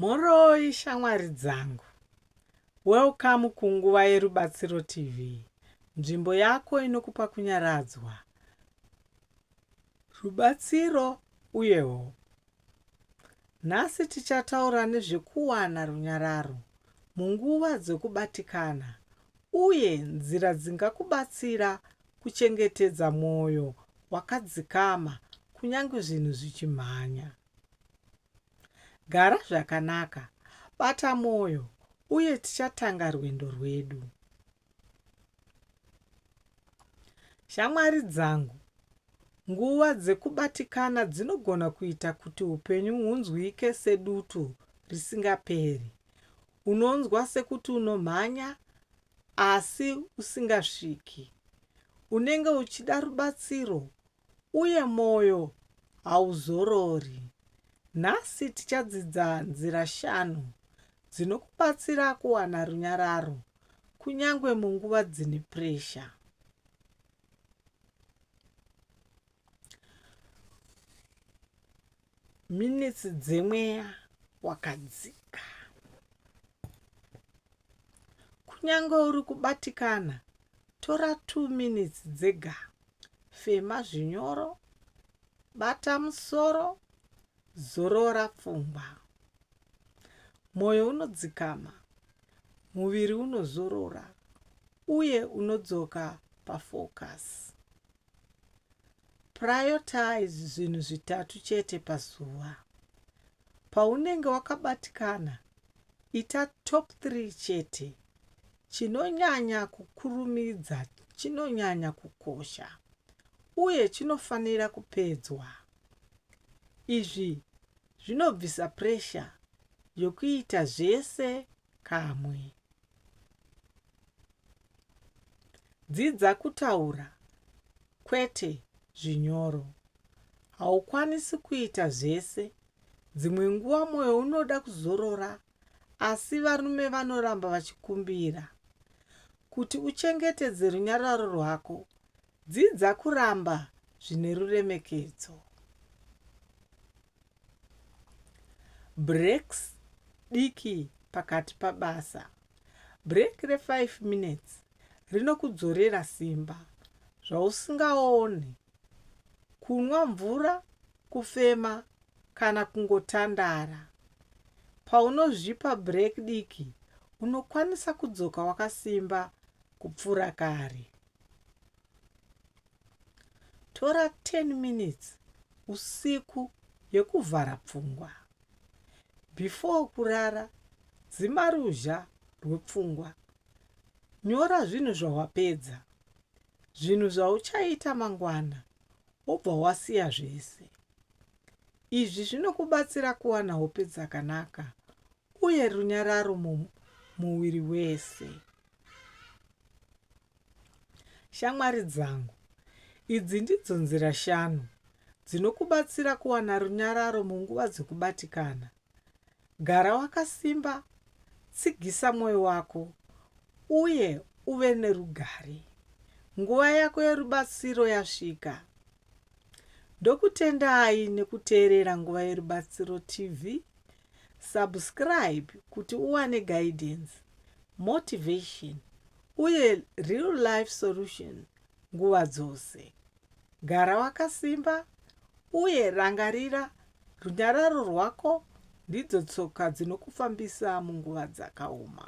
Mhoroi shamwari dzangu. Welcome ku Nguva yeRubatsiro TV, nzvimbo yako inokupa kunyaradzwa, rubatsiro uye hope. Nhasi tichataura nezvekuwana runyararo munguva dzekubatikana uye nzira dzingakubatsira kuchengetedza mwoyo wakadzikama kunyange zvinhu zvichimhanya. Gara zvakanaka, bata mwoyo, uye tichatanga rwendo rwedu. Shamwari dzangu, nguva dzekubatikana dzinogona kuita kuti upenyu hunzwike sedutu risingaperi. Unonzwa sekuti unomhanya asi usingasviki. Unenge uchida rubatsiro uye mwoyo hauzorori. Nhasi tichadzidza nzira shanu dzinokubatsira kuwana runyararo kunyange munguva dzine puresha. Minitsi dzemweya wakadzika. Kunyange uri kubatikana, tora 2 minitsi dzega. Fema zvinyoro, bata musoro, zorora pfungwa. Mwoyo unodzikama, muviri unozorora uye unodzoka pafocus. Prioritize zvinhu zvitatu chete pazuva. Paunenge wakabatikana, ita top 3 chete. Chinonyanya kukurumidza chinonyanya kukosha uye chinofanira kupedzwa. Izvi zvinobvisa pressure yokuita zvese kamwe. Dzidza kutaura kwete zvinyoro. Haukwanisi kuita zvese. Dzimwe nguva mwoyo unoda kuzorora, asi varume vanoramba vachikumbira. Kuti uchengetedze runyararo rwako, dzidza kuramba zvine ruremekedzo. Breaks diki pakati pabasa. Break re 5 minutes rinokudzorera simba zvausingaoni, kunwa mvura, kufema kana kungotandara. Paunozvipa break diki, unokwanisa kudzoka wakasimba kupfuura kare. Tora 10 minutes usiku yekuvhara pfungwa. Before kurara, dzima ruzha rwepfungwa. Nyora zvinhu zvawapedza, zvinhu zvauchaita mangwana wobva wasiya zvese. Izvi zvinokubatsira kuwana hope dzakanaka uye runyararo mumuviri wese. Shamwari dzangu, idzi ndidzo nzira shanu dzinokubatsira kuwana runyararo munguva dzekubatikana. Gara wakasimba, tsigisa mwoyo wako, uye uve nerugare. Nguva yako yerubatsiro yasvika. Ndokutendai nekuteerera Nguva Yerubatsiro TV. Subscribe kuti uwane guidance, motivation uye real life solution nguva dzose. Gara wakasimba uye rangarira runyararo rwako ndidzo tsoka dzinokufambisa munguva dzakaoma.